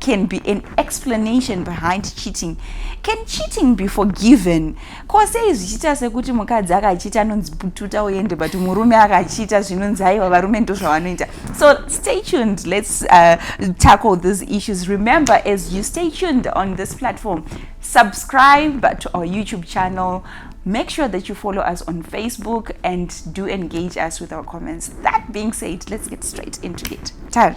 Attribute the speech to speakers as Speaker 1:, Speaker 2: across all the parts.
Speaker 1: can be an explanation behind cheating can cheating be forgiven ko sei zvichiita sekuti mukadzi akachiita anonzi pututa uende but murume akachiita zvinonzi aiwa varume ndo zvavanoita so stay tuned let's uh, tackle these issues remember as you stay tuned on this platform subscribe to our youtube channel make sure that you follow us on facebook and do engage us with our comments that being said let's get straight into it Tar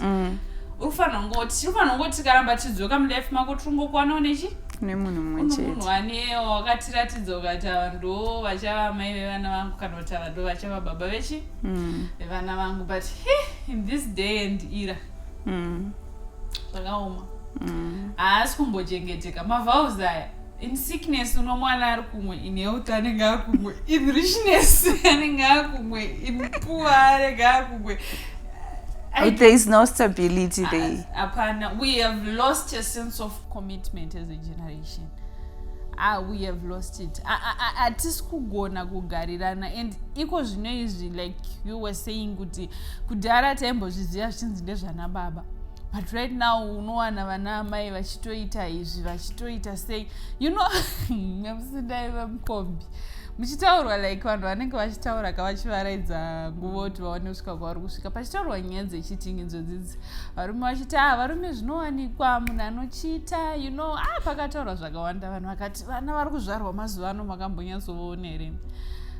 Speaker 2: mm. ufanira kungoti tinofanira kungoti tikaramba tidzoka mulife mako tiringokuwana unechi nemunhu mumwe chetemunhu wanewo wakatiratidza ukati ava ndo vachava amai vevana vangu kana kuti ava ndo vachava baba vechi mm. vevana vangu but in this day and era mm. zvakaoma haasi kumbochengeteka mavhaus aya in sickness unomwana ari kumwe in health anenge ari kumwe in richness anenge ari kumwe in poor anenge ari kumwe I,
Speaker 1: there is no stability there hapana uh, we have
Speaker 2: lost a sense of commitment as a generation ah, we have lost it hatisi kugona kugarirana and iko zvino izvi like you were saying kuti kudhara taimbozviziva zvichinzi ndezvana baba but right now unowana vana amai vachitoita izvi vachitoita sei you know nyamusidai vemukombi muchitaurwa like vanhu vanenge vachitaura ka vachivaraidza nguva kuti vaone kusvika kwavari kusvika pachitaurwa nyaya dzechitingidzo dzidzi varume vachiti ah varume zvinowanikwa munhu anochiita you know ah pakataurwa zvakawanda vanhu vakati vana vari kuzvarwa mazuva ano makambonyatsovoona here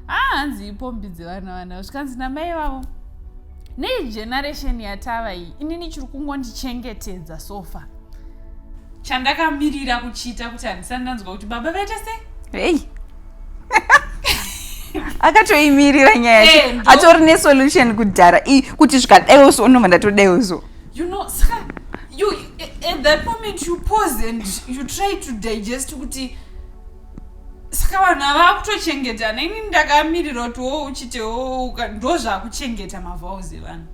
Speaker 2: ah hanzi ipombi dzevana vana zvikanzi namai vavo nei generation yatava iyi inini chiri kungondichengetedza sofa chandakamirira kuchiita kuti handisani ndanzwa kuti baba vaita sei hey.
Speaker 1: akatoimirira nyaya yacho eh, atori nesolution kudhara kuti zvikadaiwo so unobva ndatodaiwo so you know saka
Speaker 2: you, at that moment you pause and you try to digest kuti saka vanhu ava vakutochengeta neni ndakamirira kuti wo uchitewo ndo zvakuchengeta mavals evanhu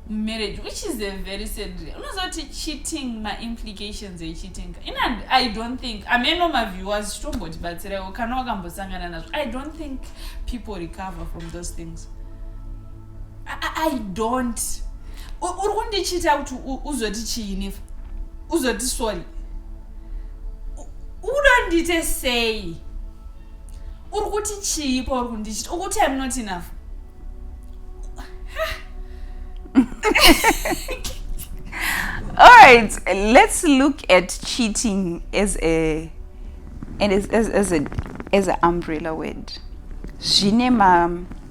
Speaker 2: mumarriage which is a very sad unozoti cheating maimplications echeating in i don't think ameno maviewers chitombotibatsiraiwo kana wakambosangana nazvo i don't think people recover from those things i, I, I don't uri kundichiita kuti uzoti chiinifa uzoti sorry uda ndiite sei uri kuti chii pauri kundichita ukuti im not enough
Speaker 1: all right let's look at cheating as a and as, as, as a as an umbrella word zvine ma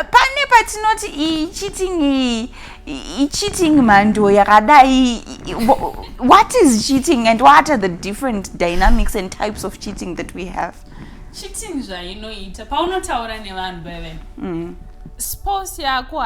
Speaker 1: pane patinoti icheating icheating mhando yakadai what is cheating and what are the different dynamics and types of cheating that we have cheating
Speaker 2: zvainoita paunotaura
Speaker 1: nevanhu
Speaker 2: beve mm. sports yako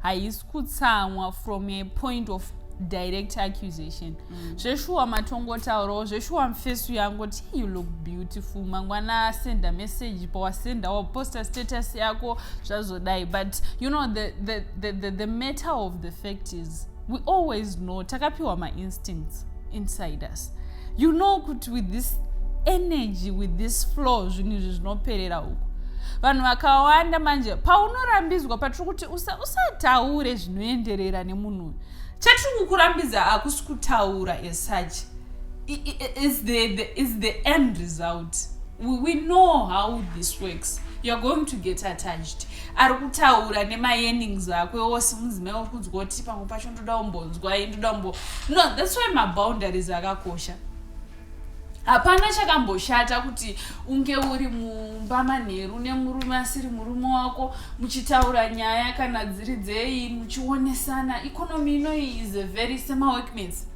Speaker 2: haisi kutsamwa from a point of direct accusation mm. zveshuwa matongotaurawo zveshuwa mfesu yangu ti you look beautiful mangwana asenda message pawasenda waposta status yako zvazodai but you know the, the, the, the, the matter of the fact is we always know takapiwa mainstincts inside us you know kuti with this energy with this flow zvinhu izvi zvinoperera uku vanhu vakawanda manje paunorambidzwa patiri kuti usataure usa zvinoenderera nemunhu uyu chatiri kukurambidza hakusi kutaura as such is the, the, is the end result we, we know how this works youare going to get attached ari kutaura nemayenings ako ose mudzimai uri kunzwa kuti pamwe pacho ndoda umbonzwai ndoda umbo no thats why maboundaries akakosha hapana chakamboshata kuti unge uri mumba manheru nemurume asiri murume wako muchitaura nyaya kana dziri dzei muchionesana ikonomi inoyi is a very semaworkmates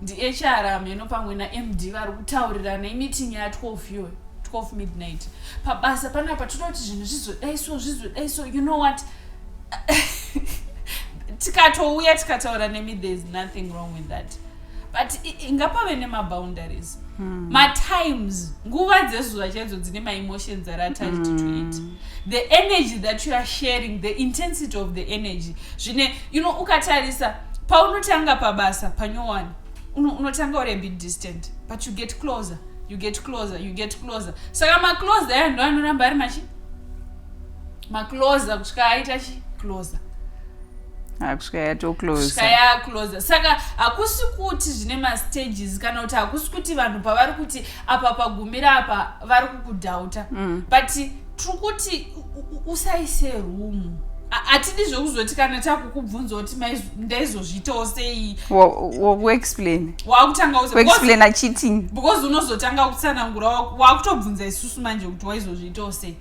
Speaker 2: ndihr amheno pamwe namd vari kutaurirana imiting ya 12 iyoyo 12 midnight pabasa panapa toda kuti zvinhu zvizodai so zvizodai so you know what tikatouya tikataura nemi there is nothing wrong with that but ngapave nemaboundaries hmm. matimes nguva dzezuva chaidzo dzine maemotions are attached to hmm. it the energy that you are sharing the intensity of the energy zvine you know ukatarisa paunotanga pabasa panyowani unotanga uri abit distant but you get closer you get closer you get closer saka macloser aya ndo anoramba ari machi macloser kusvika aita chi closer ah,
Speaker 1: kusvika yatocloser
Speaker 2: yacloser saka hakusi kuti zvine mastages kana kuti hakusi kuti vanhu pavari kuti apa pagumira apa vari kukudhauta mm. but tiri kuti usaise rumu hatidi zvekuzoti kana takukubvunza kuti ndaizozviitawo sei wakuexplain
Speaker 1: wakutangaexplaina
Speaker 2: cheating
Speaker 1: because unozotanga
Speaker 2: kutsanangura wakutobvunza isusu manje kuti waizozviitawo sei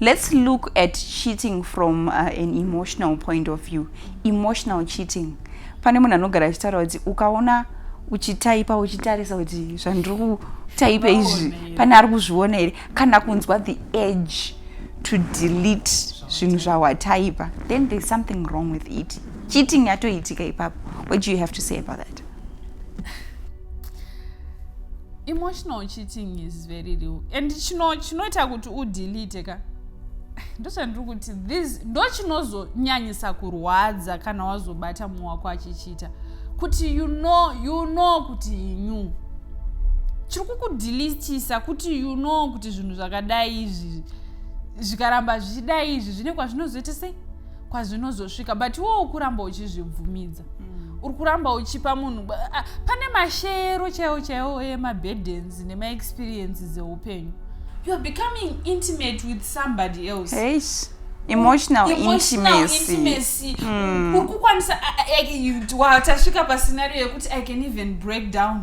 Speaker 1: Let's look at cheating from uh, an emotional point of view. Emotional cheating. Pane munhu anogara achitaura kuti ukaona uchitaipa uchitarisa kuti zvandiri kutaipa izvi pane ari kuzviona here kana kunzwa the edge to delete zvinhu zvawataipa then there's something wrong with it cheating yatoitika ipapo what do you have to say about that
Speaker 2: emotional cheating is very real and chino chinoita kuti udelete ka ndochandiri kuti this ndo chinozonyanyisa kurwadza kana wazobata mumwe wako achichiita kuti you know you know kuti inyu chiri kukudelitisa kuti you know kuti zvinhu zvakadai izvi zvikaramba zvichidai izvi zvine kwazvinozoita sei kwazvinozosvika but iwo ukuramba uchizvibvumidza mm. uri kuramba uchipa munhu pane mashero chaiwo chaiwo emaburdens nemaexperiences eupenyu you are becoming intimate with somebody else hey
Speaker 1: emotional intimacy hmm. uri
Speaker 2: kukwanisa tasvika pascenario yekuti i can even break down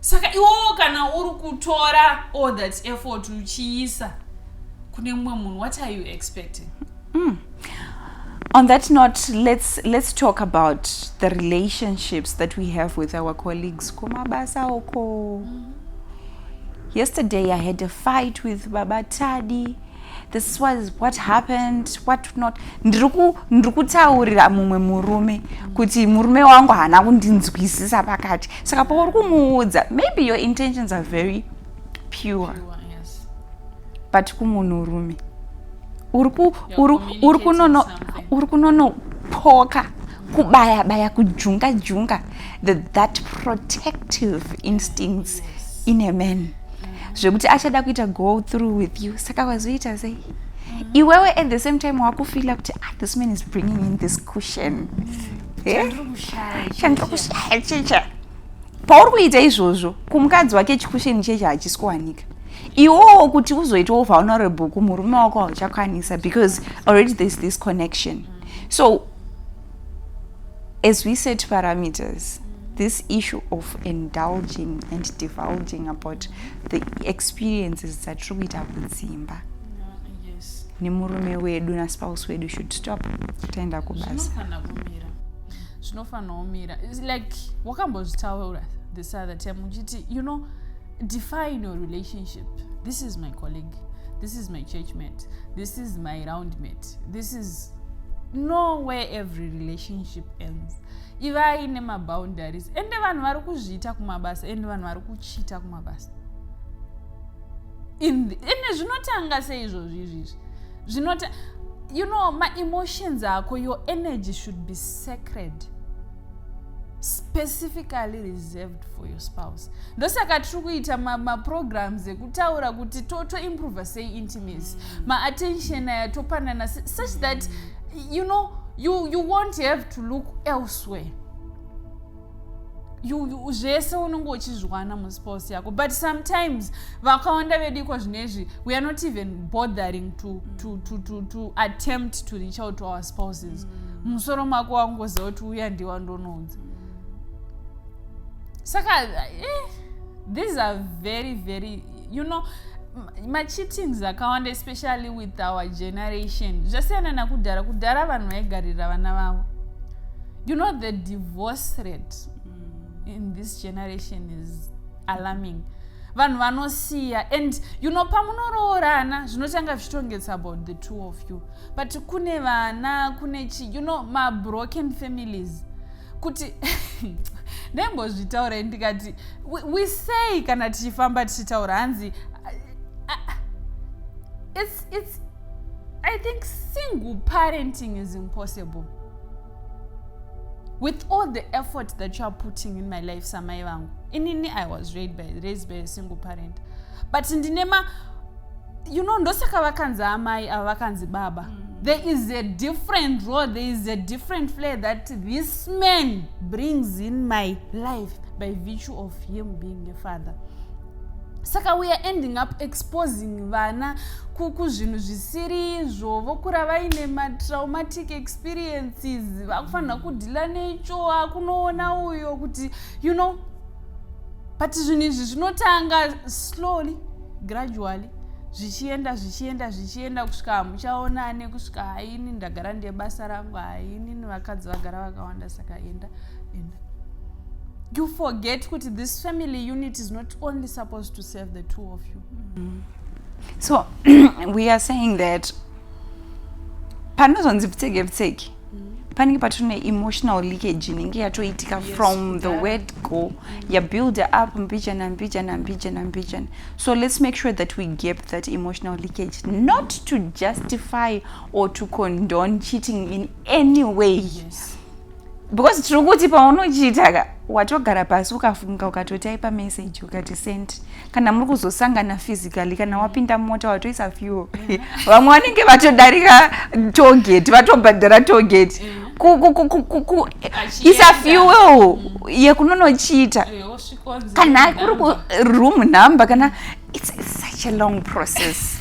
Speaker 2: saka iwowo kana uri kutora all that effort uchiisa kune mumwe munhu what are you expecting mm.
Speaker 1: on that note let's, let's talk about the relationships that we have with our colleagues kumabasa oko mm -hmm. yesterday i had a fight with baba tadi this was what happened what not ndiri kutaurira mumwe murume kuti murume wangu haana kundinzwisisa pakati saka pauri kumuudza maybe your intentions are very pure
Speaker 2: but
Speaker 1: kumunhurume uri kunonopoka kubaya baya kujunga junga that protective instincts in a man yes. zvekuti achada kuita go through with you saka wazoita sei iwewe at the same time wakufila kuti ah, this man is bringing in this cushion mm. eh? chandiri kushaya chicha pauri kuita izvozvo kumukadzi wake chikusheni cheche hachisi kuwanika iwowo kuti uzoitawo vulnerable kumurume wako hauchakwanisa because already there's this connection so As we set parameters, this issue of indulging and divulging about the experiences dzatiri kuita kudzimba nemurume wedu naspouse wedu should stop taenda kubasa
Speaker 2: zvinofanira kumira like wakambozvitaura this other time uchiti you know define your relationship this is my colleague this is my church mate this is my round mate this is no way every relationship ends ivai nemaboundaries ende vanhu vari kuzviita kumabasa ende vanhu vari kuchiita kumabasa ende zvinotanga sei izvozvi izvizvi zvinota you know maemotions ako your energy should be sacred specifically reserved for your spouse ndosaka tiri kuita maprograms ma ekutaura kuti totoimprove sei intimacy mm. maattention aya topanana such that you know you, you won't have to look elsewhere zvese unenge uchizviwana muspouse yako but sometimes vakawanda vedu iko zvinezvi we are not even bothering to, to, to, to, to attempt to reach out to our spouses mm. musoro mako wangoziva kuti uya ndiwa ndonounza saka eh, these are very very you know macheatings akawanda especially with our generation zvasiyana nakudhara kudhara vanhu vaigarira vana vavo you know the divorce rate mm. in this generation is alarming mm vanhu vanosiya and you know pamunoroorana zvinotanga zvichitongets about the two of you but kune vana kune chi you know mabroken families kuti ndaimbozvitaura ndikati we say kana tichifamba tichitaura hanzi it's, it's, i think single parenting is impossible with all the effort that you are putting in my life samai vangu inini i was raised by, raised by a single parent but ndine ma you know ndosaka vakanzi amai ava vakanzi baba mm. there is a different role there is a different flair that this man brings in my life by virtue of him being a father saka we are ending up exposing vana kuzvinhu zvisiri izvo vokura vaine matraumatic experiences vakufanira kudhila necho akunoona uyo kuti you know but zvinhu izvi zvinotanga slowly gradually zvichienda zvichienda zvichienda kusvika hamuchaona ane kusvika haini ndagara ndiye basa rangu haini nevakadzi vagara vakawanda saka enda enda you forget kuti this family unit is not only supposed to serve the two of you mm -hmm.
Speaker 1: so we are saying that panozonzi pfitseke pfitseke panenge patori neemotional leakage inenge yatoitika yes, from the word go yabuilde up mbijana mbijana mbijana mbijana so let's make sure that we gap that emotional leakage not to justify or to condone cheating in any way yes.
Speaker 2: because
Speaker 1: tiri kuti paunochiita watogara pasi ukafunga ukatotaipa message ukati send kana muri kuzosangana physically kana wapinda mota watoisa fuel mm. vamwe vanenge vatodarika togeti vatobhadhara togeti mm. isa fuel yekunonochiita kana kuri kuroom number kana it's such a long process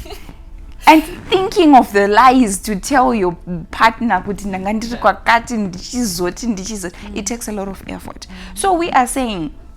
Speaker 1: and thinking of the lies to tell your partner kuti ndanga ndiri kwakati ndichizoti ndichizoti it takes a lot of effort so we are saying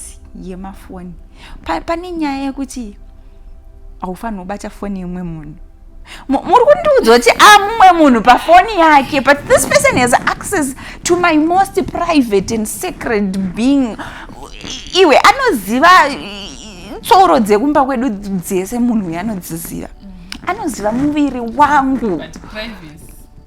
Speaker 1: pasi yemafoni pa, pane nyaya yekuti haufanirwa kubata foni yemumwe munhu muri kundiudza kuti amumwe ah, munhu pafoni yake but this person has access to my most private and sacred being iwe anoziva tsoro dzekumba kwedu dzese munhu uyo anodziziva anoziva muviri wangu But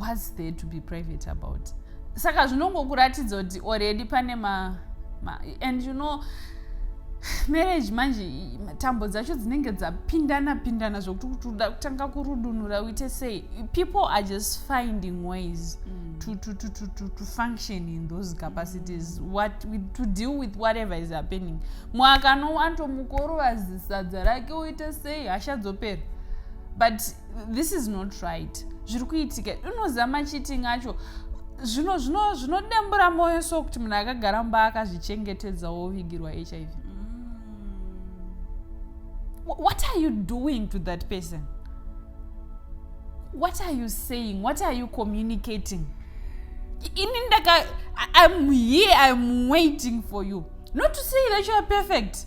Speaker 2: whats there to be private about saka zvinongokuratidza kuti already pane ma, ma and you know marriage manje tambo dzacho dzinenge dzapindana pindana zvokuti kuti uda kutanga kurudunura uite sei people are just finding ways mm. to, to, to, to, to, to function in those capacities mm. what, with, to deal with whatever is happening mwaka nowanto mukorovazisa dza rake uite sei hasha dzopera but this is not right zviri kuitika unoziva macheating acho zvino zvino zvinodembura mwoyo so kuti munhu akagara mba akazvichengetedza wovigirwa hiv what are you doing to that person what are you saying what are you communicating ini ndaka i'm here i'm waiting for you not to say that you are perfect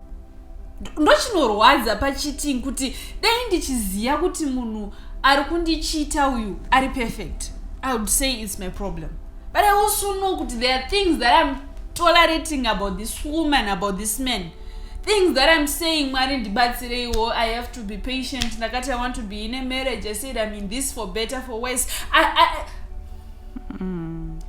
Speaker 2: ndochinorwadza pachiting kuti dai ndichiziva kuti munhu ari kundichiita uyu ari perfect i would say its my problem but i also know kuti there are things that im tolerating about this woman about this man things that im saying mwari ndibatsireiwo i have to be patient ndakati i want to be in a marriage i said im in this for better for worse I, I, mm.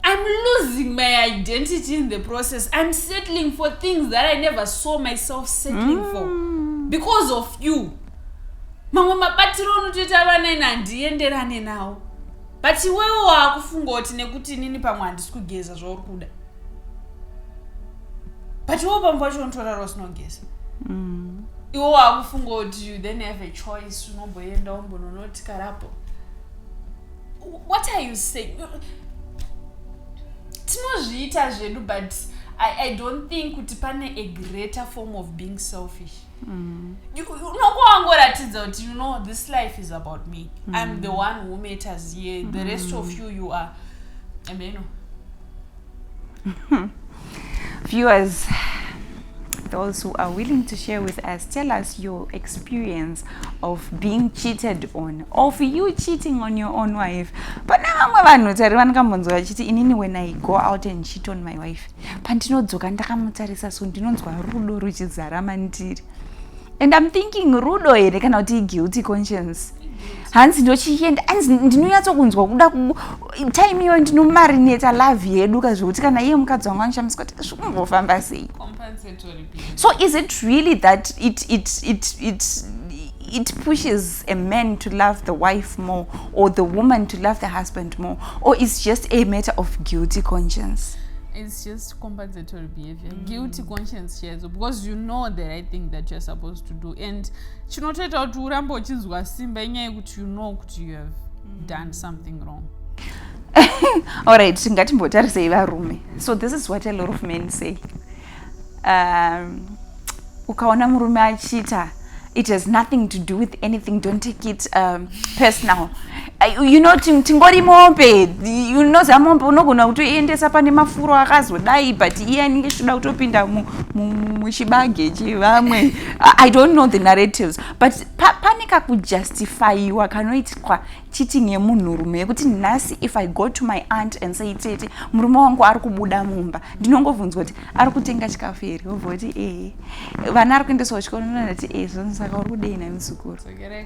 Speaker 2: I'm losing my identity in the process. I'm settling for things that I never saw myself settling mm. for because of you. mamwe mabatiro anotoita vana ini handienderane nawo but iwewe waakufunga kuti nekuti inini pamwe handisi kugeza zvauri kuda but iwewe pamwe pacho unotorara usinogeza mm. iwe waakufunga kuti you then have a choice unomboenda umbononoti karapo what are you saying tinozviita zvedu but I, i don't think kuti pane a greater form of being selfish mm. unongo wangoratidza kuti you know this life is about me mm. i'm the one who matters here mm. the rest of mm. you you are ameno
Speaker 1: Viewers, those who are willing to share with us, tell us your experience of being cheated on, of you cheating on your own wife. Pane vamwe vanhu tari vanokambonzwa vachiti inini when I go out and cheat on my wife, pandinodzoka ndakamutarisa so ndinonzwa rudo ruchizara mandiri. And I'm thinking rudo here kana kuti guilty conscience. hanzi ndochienda hanzi ndinonyatsokunzwa kuda time iyoyo ndinomarineta love yedu ka zvekuti kana iye mukadzi wangu anoshamiswa kuti zvikumbofamba sei so is it really that it, it, it, it it pushes a man to love the wife more or the woman to love the husband more or is just a matter of guilty conscience it's just
Speaker 2: compensatory behavior mm. guilty conscience shares because you know the right thing that you're supposed to do and chinotoita kuti urambe uchinzwa simba inyaya yekuti you know kuti you have mm. done something wrong
Speaker 1: allright ngatimbotarisei varume so this is what a lot of men say um, ukaona murume achiita it has nothing to do with anything don't take it um, personal you know tingori mombe you know zamombe unogona kutoiendesa pane mafuro akazodai but iye anenge chitoda kutopinda muchibage chevamwe i don't know the narratives but pa, pane kakujustifyiwa kanoitwa cheating yemunhurume yekuti nhasi if i go to my aunt and say tete murume wangu ari kubuda mumba ndinongovunzwa kuti ari kutenga chikafu here obva kuti ee vana ari kuendeswa kuchikoro ndinonati ee zvonzi saka uri kudei nani muzukuru okay,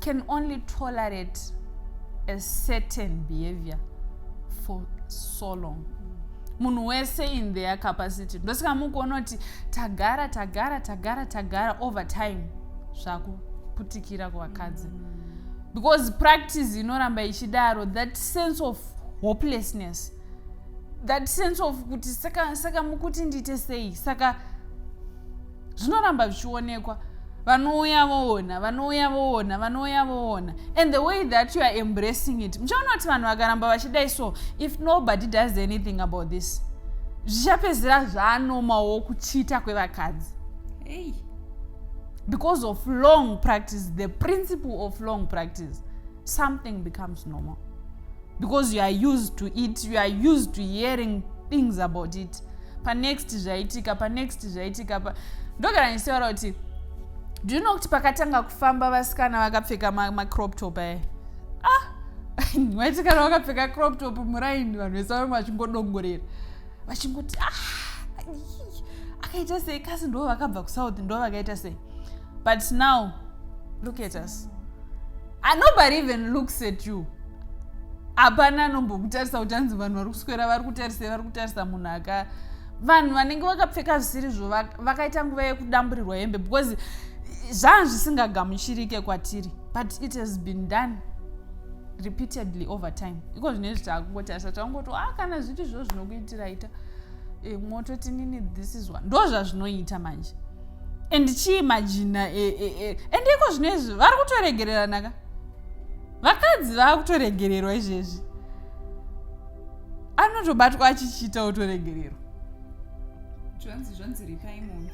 Speaker 2: can only tolerate a certain behavior for so long munhu wese in their capacity ndosika mukuona kuti tagara tagara tagara tagara over time zvakuputikira kuvakadzi because practice inoramba ichidaro that sense of hopelessness that sense of kuti saka, saka mukuti ndiite sei saka zvinoramba zvichionekwa vanouya voona vanouya voona vanouya voona and the way that you are embracing it muchaona kuti vanhu vakaramba vachidai so if nobody does anything about this zvichapedzera zvaanomawo kuchita kwevakadzi hey. because of long practice the principle of long practice something becomes normal because you are used to it you are used to hearing things about it panext zvaitika panext zvaitika pa ndogara ndichitaura kuti do you know kuti pakatanga kufamba vasikana vakapfeka macrop ma top aya ah vaitikana vakapfeka crop top muraini vanhu vese vamwe vachingodongorera vachingoti ah akaita sei kasi ndo vakabva kusouth ndo vakaita sei but now look at us ah, nobody even looks at you hapana anombokutarisa kuti anzi vanhu vari kuswera vari kutarisa vari kutarisa munhu aka vanhu vanenge vakapfeka zvisiri zvo vakaita nguva yekudamburirwa hembe because zvanga zvisingagamuchirike kwatiri but it has been done repeatedly over time iko zvine zvi takungotarisa takungoto a ah, kana zviti zvo zvinokuitiraita e, eh, mototi nini this is one ndo zvazvinoita manje and chii majina e, e, e. and iko zvino izvi vari kutoregereranaka vakadzi vava kutoregererwa izvezvi anotobatwa achichiita otoregererwa zvanzi
Speaker 1: zvanzi ripai munhu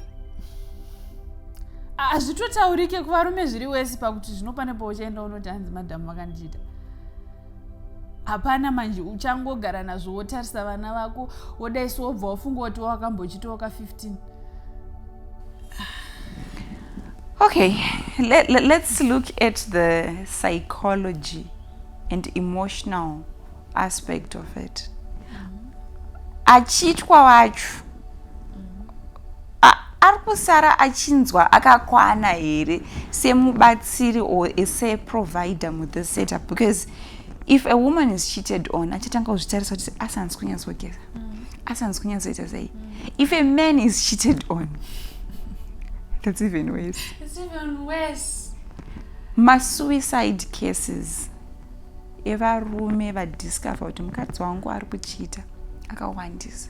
Speaker 2: hazvitotaurike kuvarume zviri wese pakuti zvinopane pauchaenda unoti hanzi madhamu vakandiita hapana manje uchangogara nazvo wotarisa vana vako wodaiso wobva wafunga kuti wakambochitoka 15
Speaker 1: okay let, let, let's look at the psychology and emotional aspect of it mm -hmm. achitwa wacho ari kusara achinzwa akakwana here semubatsiri or seprovider muthe setup because if a woman is cheated on achatanga kuzvitarisa kuti asanzi kunyatsogeza mm. asanzi kunyatsoita sei mm. if a man is cheated on that's even worse it's even
Speaker 2: worse
Speaker 1: masuicide cases evarume vadiscover kuti mukadzi wangu ari kuchita akawandisa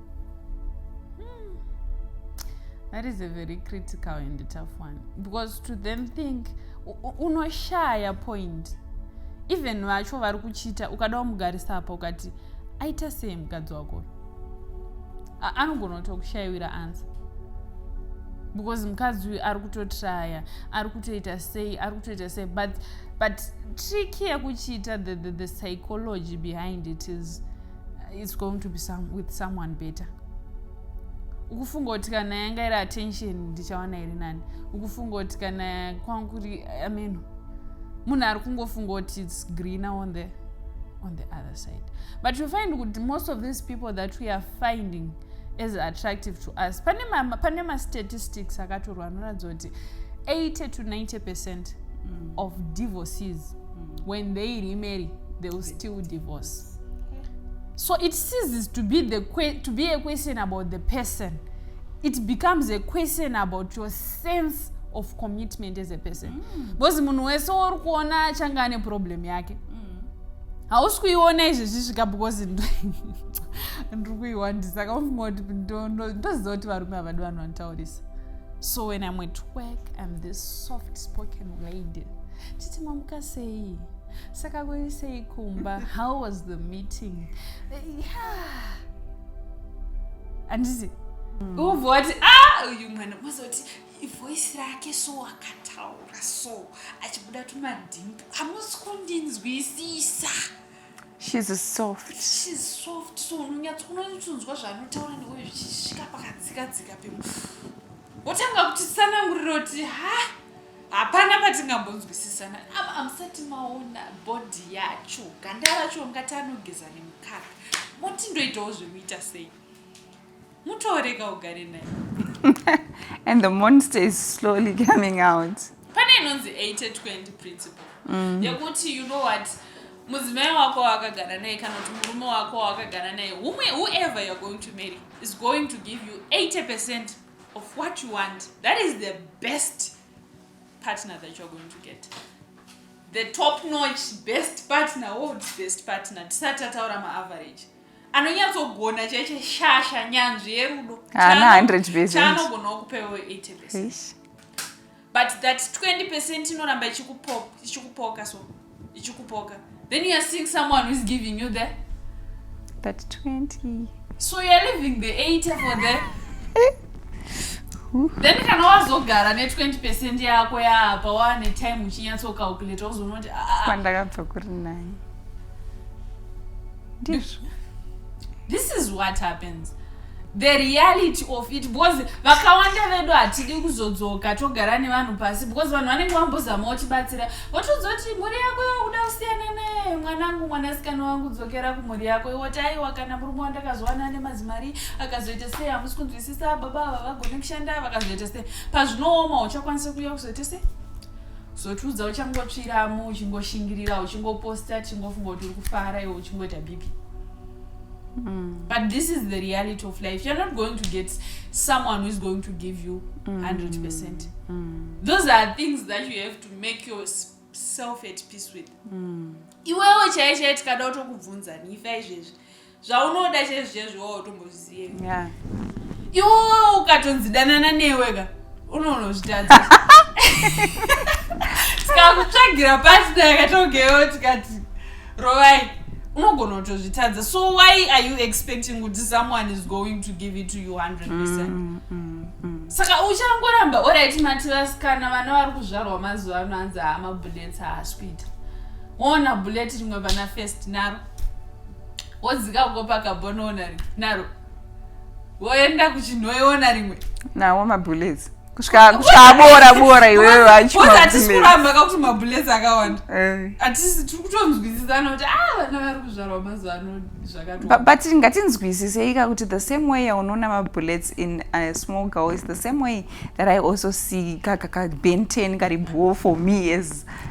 Speaker 2: hmm. that is a very critical and tough one because to then think unoshaya point even vacho vari kuchiita ukada wamugarisa apa ukati aita sei mukadzi wako anogona kutokushaiwira ansa because mukadzi uyu ari kutotraya ari kutoita sei ari kutoita sei but, but trick yekuchiita the, the, the psychology behind it is it's going to be some, with someone better ukufunga kuti kana yanga iri attention ndichawana iri nani ukufunga kuti kana kwangu kuri ameno munhu ari kungofunga kuti its greener on the on the other side but you find kuti most of these people that we are finding as attractive to us pane mastatistics akatorwa anoratidza kuti 80 to 90 percent mm. of divorces mm. when they remarry they will still divorce so it ceases to be, the que to be a question about the person it becomes a question about your sense of commitment as a person mm. because munhu wese uri kuona achange ane problem yake mm. hausi kuiona izvezvi svika because ndiri kuiwandisa kaunga kuti ndoziva kuti varume havadi vanhu vanotaurisa so when im at work im this soft spoken lady titi mamuka sei saka kuri sei kumba how was the meeting yeah. anditi mm. ubva wati ah uyu mwana mazoti ivoisi rake so akataura so achibuda tumadhimbu hamusi kundinzwisisa
Speaker 1: shes soft shes soft so
Speaker 2: unonyatso unotonzwa zvaanotaura newe zvichisvika pakadzikadzika pemu wotanga kuti sananguriro kuti ha hapana patingambonzwisisana apa amusati maona bhodhi yacho ganda racho ungati anogeza nemukaka moti ndoitawo zvekuita sei mutoorega ugare naye
Speaker 1: and the monster is slowly coming out pane inonzi 8020
Speaker 2: principle mm. yekuti you know what mudzimai wako waakagara naye kana kuti murume wako waakagara naye whoever youare going to marry is going to give you 80 percent of what you want that is the best partner that you're going to get the top notch best partner oh best partner tisati tataura maaverage anonyatsogona chaiche shasha nyanzvi yerudo haana 100
Speaker 1: chaanogona kupewo
Speaker 2: 80 but that 20 percent inoramba ichikupoka so ichikupoka then youare seeing someone whois giving you the that
Speaker 1: 20 so youare living
Speaker 2: the 80 for the then kana wazogara ne20 percent yako yaapa waane time uchinyatsokaukileta uzoona kuti ah, ah, ah. kwandakabva kuri
Speaker 1: nani ndizvo this
Speaker 2: is what happens the reality of it because vakawanda vedu hatidi kuzodzoka togara nevanhu pasi because vanhu vanenge vambozama vachibatsira votoudza kuti mhuri yako yokuda kusiyana naye mwanangu mwanasikana wangu dzokera kumhuri yako iwoti aiwa kana murume wandakazowana ane mazimari akazoita sei hamusi kunzwisisa baba ava vagone kushanda vakazoita sei pazvinooma uchakwanisa kuuya kuzoita sei zotiudza uchangotsviramo uchingoshingirira uchingoposta chingofunga kuti uri kufara iwe uchingoita bipi Mm. But this is the reality of life. You're not going to get someone who is going to give you mm. 100%. Mm. Those are things that you have to make yourself at peace with. Mm. Iwewe chaiye chaiye tikada kutokubvunza nifa izvezvi. zvaunoda chezvezvo wo tombozviziye yeah. iwo ukatonzi danana newe ka unonozvitadza tikakutsvagira pasina yakatogeyo tikati rovai unogona kutozvitadza so why are you expecting kuti someone is going to give it to you 100 percent mm, mm, mm. saka uchangoramba orit mati vasikana vana vari kuzvarwa mazuva ano anzi hama bullets haasikuita ona bullet rimwe vana first naro wodzika uko pakabonoona ri naro woenda kuchinhoiona rimwe nawo mabullets
Speaker 1: kusvika kusvika abora bora iwewe Because wacho hatisi kuramba
Speaker 2: kakuti mabulets akawanda Eh. hatisi tiri kutonzwisisana kuti ah vana vari kuzvarwa mazuva ano Bu- zvakatoa but ngatinzwisiseika
Speaker 1: kuti the same way yaunoona mabullets in a small girl is the same way that i also see kakakabenten kari bhoo for me as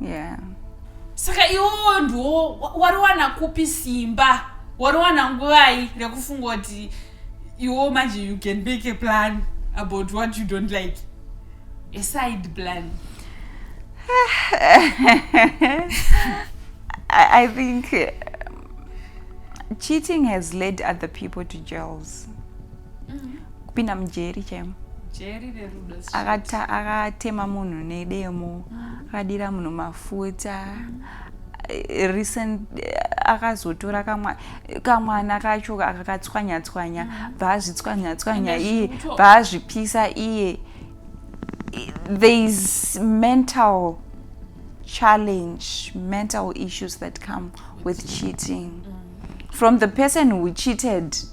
Speaker 2: yeah.
Speaker 1: saka
Speaker 2: iwowo ndiwo wariwana kupi simba wariwana nguvai rekufunga kuti iwo manje you can make a plan about what you don't like a side plan I,
Speaker 1: I think um, cheating has led other people to jails mm -hmm. kupinda mujeri chaimo
Speaker 2: akatema
Speaker 1: munhu nedemo mm. akadira munhu mafuta eh, recent eh, akazotora kamwana kacho akakatswanyatswanya mm. bvaazvitswanyatswanya iye bvaazvipisa iye there is mental challenge mental issues that come with cheating mm. from the person who cheated mm.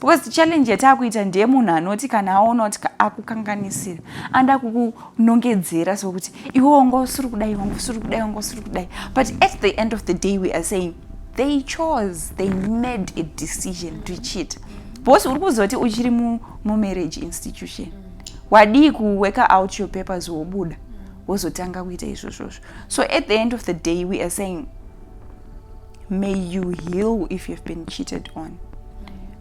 Speaker 1: because challenge yataakuita ndeye munhu anoti kana aona kuti akukanganisira anda kukunongedzera sokuti iwe wanga usiri kudai wanga usiri kudai wanga usiri kudai but at the end of the day we are saying they chose they made a decision to cheat bhosi uri kuzoti uchiri mumarriage institution wadii kuworker out your papers wobuda wozotanga kuita izvozvozvo so at the end of the day we are saying may you heal if you've been cheated on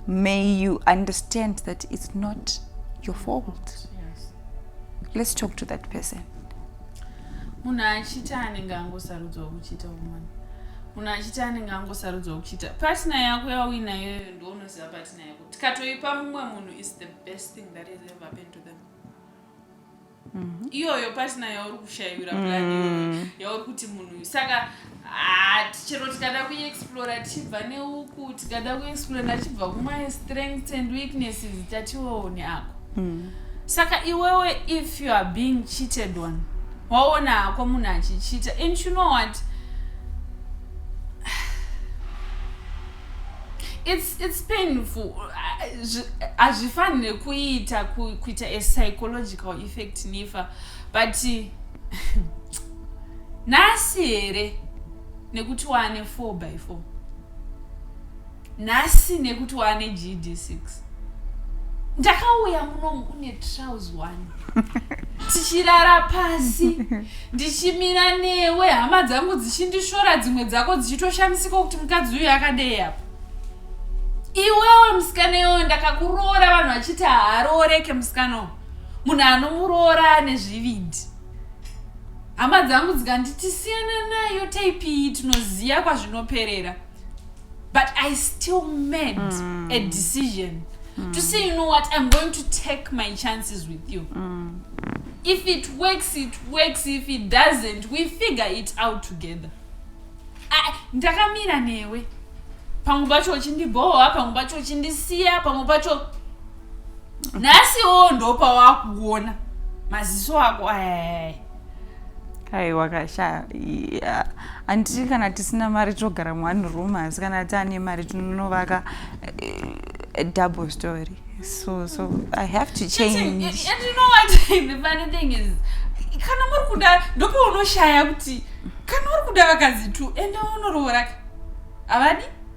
Speaker 1: may you understand that it's not your fault yes.
Speaker 2: let's talk
Speaker 1: to that person
Speaker 2: munhu achita anenge angosarudzwa kuchita umwana munhu achiti anenge angosarudzwa kuchita patina yako yauinayoyo ndounoziva patina yako tikatoipa mumwe munhu is the best thing that is ever happened to them Mhm. iyoyo pasina yauri kushaiwira mm. plan iyoyo yauri kuti munhu uyu saka ah, chero tikada kuexplora tichibva neuku tikada kuexplora ndachibva kumae strengths and weaknesses tatione ako mm. saka iwewe if you are being cheated on waona hako munhu achichita and you know what it's it's painful hazvifanire kuita kuita a psychological effect nifa but nhasi here nekuti waane four by four nhasi nekuti waane gd six ndakauya munomu une trouse one tichirara pasi ndichimira newe hama dzangu dzichindishora dzimwe dzako dzichitoshamisika kuti mukadzi uyu akadei apa iwewe musikana iyoyo ndakakuroora vanhu vachiti haarooreke musikana uyu munhu anomuroora ane zvivindi hama dzangu dzikanditi siyana nayo taipii tinoziva kwazvinoperera but i still made mm. a decision mm. to say you know what i'm going to take my chances with you mm. if it works it works if it doesn't we figure it out together ndakamira newe pamwe pacho uchindibhohwa pamwe pacho uchindisiya pamwe pacho nhasiwo ndopawakuona maziso ako ayayaya aiwa kasha
Speaker 1: yeah. anditi kana tisina mari togara muone room asi kana taane mari tinonovaka uh, double story so so i have to change and, and, and you know what
Speaker 2: the funny thing is kana muri kuda ndopaunoshaya kuti kana uri kuda vakazi two ende unorooraka avadi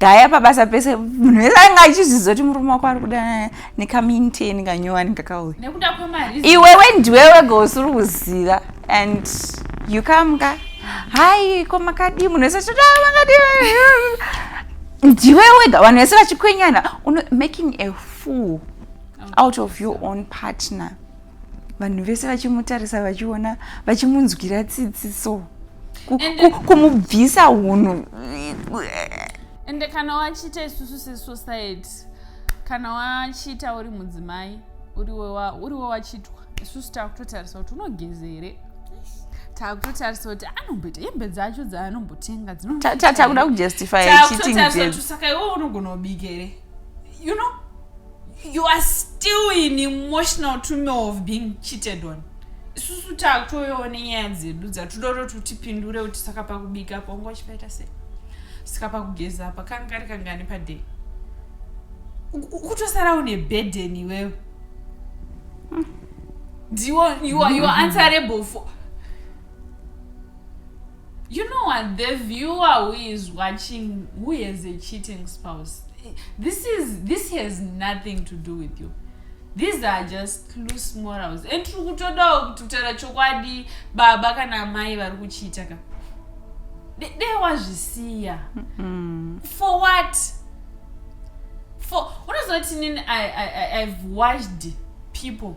Speaker 1: gaya pabasa pese munhu wese ainge achizviziva kuti murume wako ari kuda nekaminten kanyowani kakauya
Speaker 2: iwewe ndiwewe
Speaker 1: gausiri kuziva and you come ka hai ko makadii munhu wese chita ah, makadii ndiwe wega vanhu vese vachikwenyana making a fool out of your own partner vanhu vese vachimutarisa vachiona vachimunzwira tsitsi so kumubvisa hunhu
Speaker 2: ende kana wachiita isusu sesociety kana wachiita uri mudzimai uriwe wachitwa isusu takutotarisa kuti unogeze here takutotarisa kuti anomboita hembe dzacho dzaanombotenga dzinotakuda
Speaker 1: kujustifysakai wo unogona
Speaker 2: kubika here you know you are still in emotional turmoil of being cheated on isusu takutoyowo nenyaya dzedu dzatodoro tutipindure kuti saka pakubika apo wanga uchipaita sei saka pakugeza apa kanga kari kangani paday ukutosara une burden iwewe ndiwo you are, you are answerable for You know what? The viewer who is watching who has a cheating spouse, this is this has nothing to do with you. These are just loose morals. And tiri kutodawo kuti kutaura chokwadi baba kana amai vari kuchiita ka. Dei wazvisiya. For what? For unoziva kuti inini I, I, I, I've watched people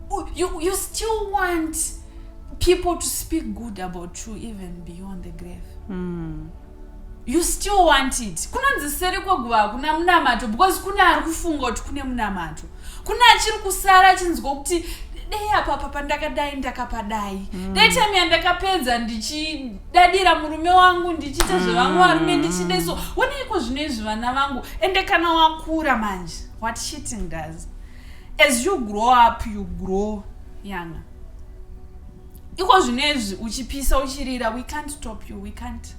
Speaker 2: you, you still want people to speak good about you even beyond the grave mm. you still want it kunonzi seri kweguva hakuna munamato because kune ari kufunga kuti kune munamato kune achiri kusara achinzwa kuti dei apa papa ndakadai ndakapadai mm. dei time yandakapedza ndichidadira murume wangu ndichiita mm. zvevamwe varume ndichide so woneiko zvino izvi vana vangu ende kana wakura manje what cheating does as you grow up you grow younger iko zvinezvi uchipisa uchirira we can't stop you we can't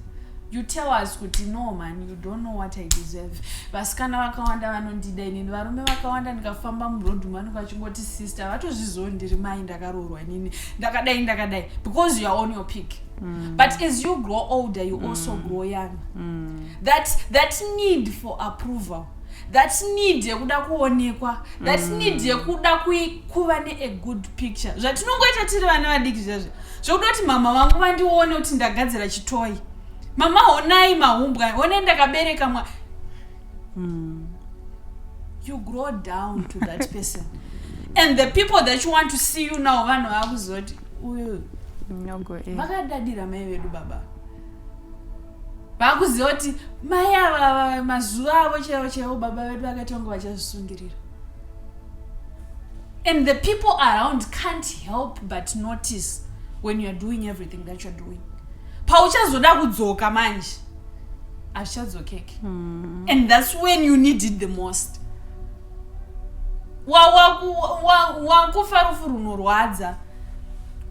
Speaker 2: you tell us kuti no man you don't know what i deserve vasikana vakawanda vanondida inini varume vakawanda ndikafamba muroad umu vanenge vachingoti sister vatozvizivo ndiri mai ndakaroorwa inini ndakadai ndakadai because youare on your pick mm. but as you grow older you mm. also grow young mm. that, that need for approval that need yekuda kuonekwa that mm. need yekuda kuva ne a good picture zvatinongoita tiri vana vadiki zvazvo zvekuda kuti mama vangu vandione kuti ndagadzira chitoyi mama honai mahumbwa honai ndakabereka mwa mm. you grow down to that person and the people that you want to see you now vanhu vakuzoti uyu vakadadira mai vedu baba vakuziva kuti mai ava mazuva avo chaivo chaivo baba vedu vakaita kunge vachazvisungirira and the people around can't help but notice when youare doing everything that youare doing pauchazoda kudzoka manje hazvichadzokeke hmm. and thats when you need it the most wakufa rufu runorwadza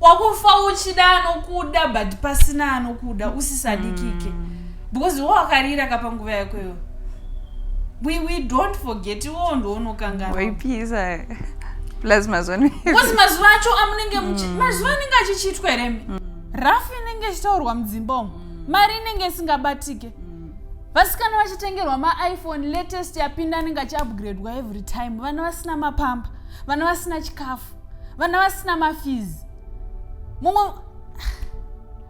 Speaker 2: wakufa uchida anokuda but pasina anokuda usisadikike mm. because wo wakarira kapa nguva yako iyo we, we don't forget iwowo ndoonokanganwaipisa
Speaker 1: plus mazuvano because mazuva acho
Speaker 2: amunenge mm. mazuva anenge achichiitwa here mi mm. rafu inenge ichitaurwa mudzimba umu mm. mari inenge isingabatike mm. vasikana vachitengerwa maiphone latest yapinda anenge achiupgradwa every time vana vasina mapamba vana vasina chikafu vana vasina mafees mumwe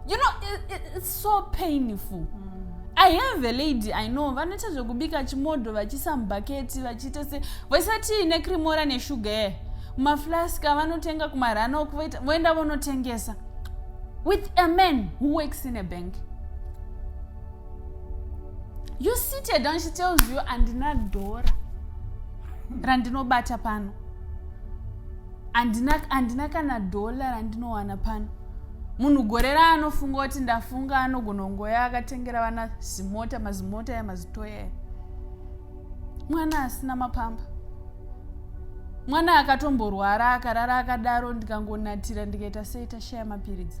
Speaker 2: you know it's so painful mm. i have a lady i know vanoita zvekubika chimodho vachiisa mubhaketi vachiita se vaisati necrimora neshuga e maflaska vanotenga kumarana uku voenda vonotengesa with a man who works in a bank you seated and she tells you andina dhora randinobata pano andina, andina kana dhola randinowana pano munhu gore raanofunga kuti ndafunga anogona kungoya akatengera vana zimota mazimota ya mazitoya mwana asina mapamba mwana akatomborwara akarara akadaro ndikangonatira ndikaita sei tashaya mapiritsi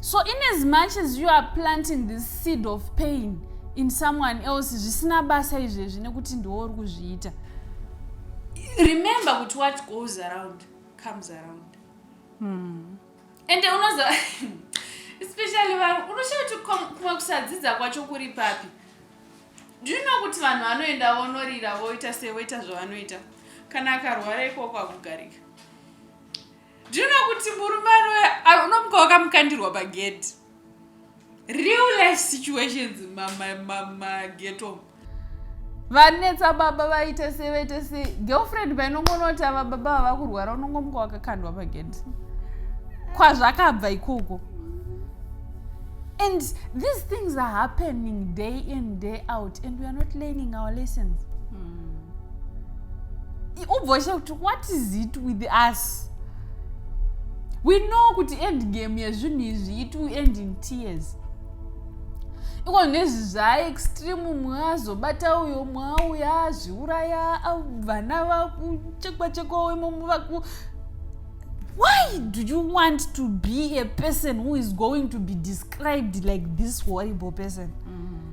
Speaker 2: so in as much as you are planting this seed of pain in someone else zvisina basa izvezvi nekuti ndiwo uri kuzviita remember kuti what goes around comes around mm. and unoza especially vanhu unoshaya kuti kumwe kusadzidza kwacho kuri papi do you know kuti vanhu vanoenda vonorira voita sevoita zvavanoita kana akarwara ikoko akugarika Do you know kuti murume anoya ah, unomuka wakamukandirwa pagedhi real life situations mageto vanetsa baba vaite se vaite se girlfriend painongonoti ava baba vava kurwara unongomuka wakakandwa pagedhi kwazvakabva ikoko and these things are happening day in day out and weare not learning our lessons ubvosha kuti what is it with us we know kuti end game yezvinhu izvi it will end in tears iko nezvi zvaextreme mumwe azobata uyo mwe auya azviuraya vana vakuchekwa chekwa wemomo vaku why do you want to be a person who is going to be described like this horrible person mm.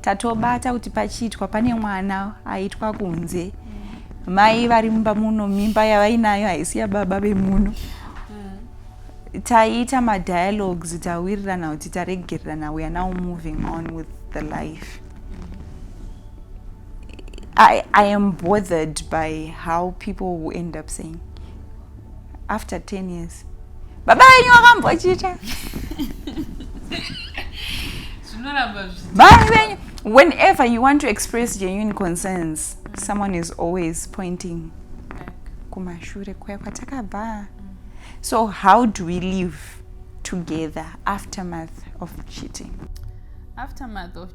Speaker 1: tatobata kuti pachiitwa pane mwana aitwa kunze mai vari mumba muno mimba yavainayo haisi yababa vemuno mm. taiita madialogues tawirirana kuti taregererana we are now moving on with the life I, I am bothered by how people will end up saying after 10 years baba venyu vakambochita baba venyu whenever you want to express genuine concerns mm. someone is always pointing kumashure kuya kwatakabva so how do we live together aftermath of cheating aftermath
Speaker 2: of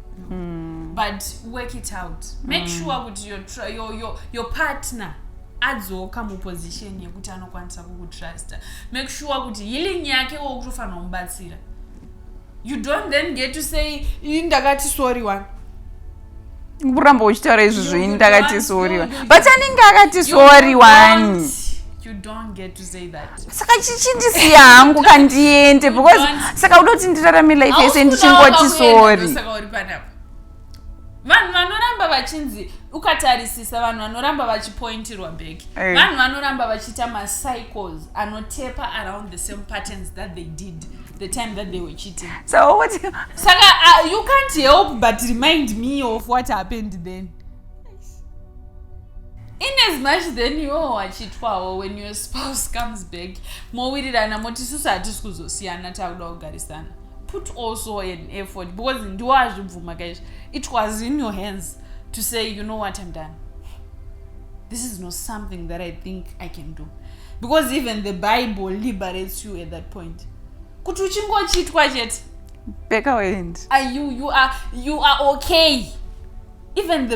Speaker 2: mm. but work it out make mm. sure kuti your, your, your, your partner adzoka muposition yekuti anokwanisa kukutrusta make sure kuti healing yake wo kutofanira kumubatsira you don't then get to say ii ndakati sorry one
Speaker 1: kuramba uchitaura izvozvo ini ndakati sorry one but anenge akati sorry one you don't
Speaker 2: get to saka chichindisiya
Speaker 1: hangu kandiende because saka uda kuti ndirarame life yese ndichingoti sori
Speaker 2: vanhu vanoramba vachinzi ukatarisisa vanhu vanoramba vachipointirwa back eh. vanhu vanoramba vachiita macycles anotepa around the same patterns that they did the time that they were cheating so what
Speaker 1: saka uh, you
Speaker 2: can't help but remind me of what happened then in as much then iwewo wachitwawo when your spouse comes back mowirirana moti isusu hatisi kuzosiyana takuda kugarisana put also an effort because ndiwo azvibvuma kaizvo it was in your hands to say you know what i'm done this is not something that i think i can do because even the bible liberates you at that point kuti uchingochitwa chete back away and
Speaker 1: are you you are you
Speaker 2: are okay even the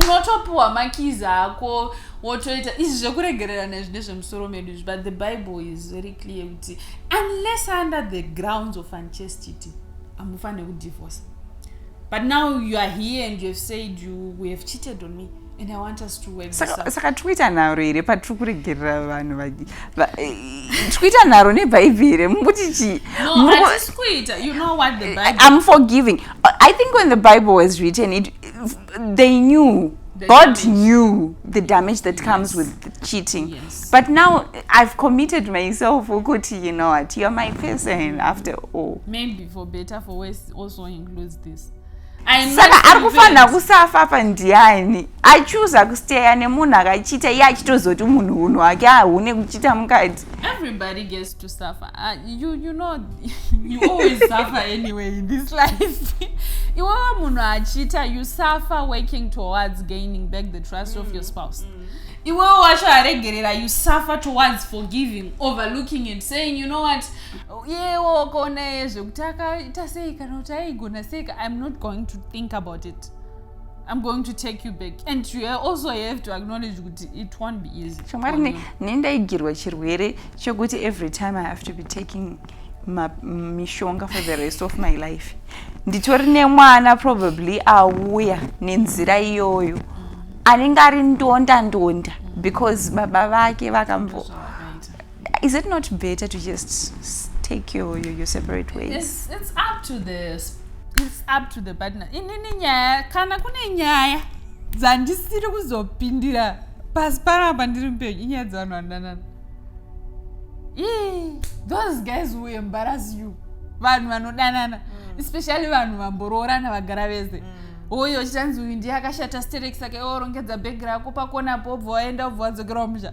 Speaker 2: unotopiwa makeys ako wotoita izvi zvekuregererana izvi ndezvemusoro medu izvi but the bible is very clear kuti unless under the grounds of unchastity hamufanire kudivorce but now you are here and you have said you, you have cheated on me and i want us to work saka, saka tikuita nharo
Speaker 1: here patiri kuregerera vanhu vagi tikuita nharo nebhaibhi here mukuti chii no, you
Speaker 2: know what the eh, bible i'm forgiving
Speaker 1: I think when the Bible was written, it, they knew. The God damage. knew the damage that yes. comes with cheating. Yes. But now I've committed myself, Ukuti, you know what, you're my person after all. Maybe for better,
Speaker 2: for worse, also includes this. saka
Speaker 1: ari kufanira kusafa pandiani achuza kusteya nemunhu akachita iye achitozoti munhu unhu wake ahune kuchita mukati everybody gets
Speaker 2: to suffer uh, you, you know you always suffer anyway in this life iwewe munhu achiita you suffer working towards gaining back the trust mm. of your mm, spouse mm. iwewe wacho aregerera you suffer towards forgiving overlooking and saying you know what yewo wakaona ye zvekuti akaita sei kana kuti aigona sei i'm not going to think about it I'm going to take you back. And you also have to acknowledge that it won't be easy. Shamari, nindaigirwa
Speaker 1: chirwere chokuti every time I have to be taking mishonga for the rest of my life. Nditori nemwana probably auya nenzira iyoyo. Anenge ari ndonda ndonda because baba vake vakambo Is it not better to just take your, your, your separate ways? It's, it's up to the
Speaker 2: it's up to the partner. Inini nyaya kana kune nyaya dzandisiri kuzopindira pasi panapa ndiri mupenyu inyaya dzevanhu vandanana. Ii, those guys will embarrass you. Vanhu vanodanana, mm. especially vanhu vamboroorana vagara vese. Mm. Oyo uchichanzi uyu ndiye akashata stereki saka iwe orongedza bhegi rako pakona pobva waenda obva wadzokera kumusha.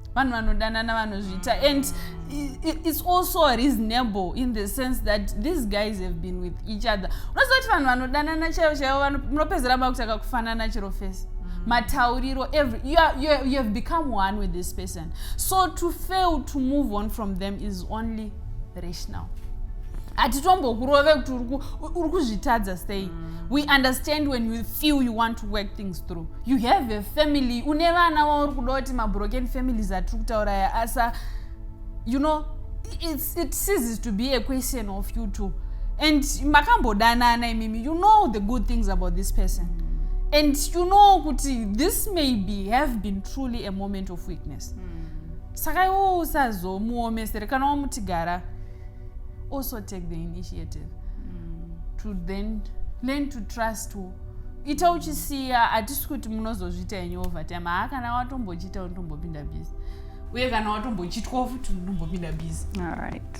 Speaker 2: vanhu vanodanana vanozviita and it's also reasonable in the sense that these guys have been with each other unoziva kuti vanhu vanodanana chaivo chaivo munopedzera makutaka kufanana chero fesi mm. matauriro every you, are, you, are, you have become one with this person so to fail to move on from them is only rational hatitombokurove kuti uri kuzvitadza sei mm. we understand when you feel you want to work things through you have a family une vana wauri kuda kuti mabroken families atiri kutaura ya asa you know it's, it ceases to be a question of you too and makambodanana imimi you know the good things about this person mm. and you know kuti this maybe have been truly a moment of weakness mm. saka iwo usazomuomesere kana wamutigara also take the initiative mm. to then learn to trust wo ita uchisiya hatisi kuti munozozviita yenyu overtime haa kana watombochiita unotombopinda busy uye kana watombochitwa futi unotombopinda busy alright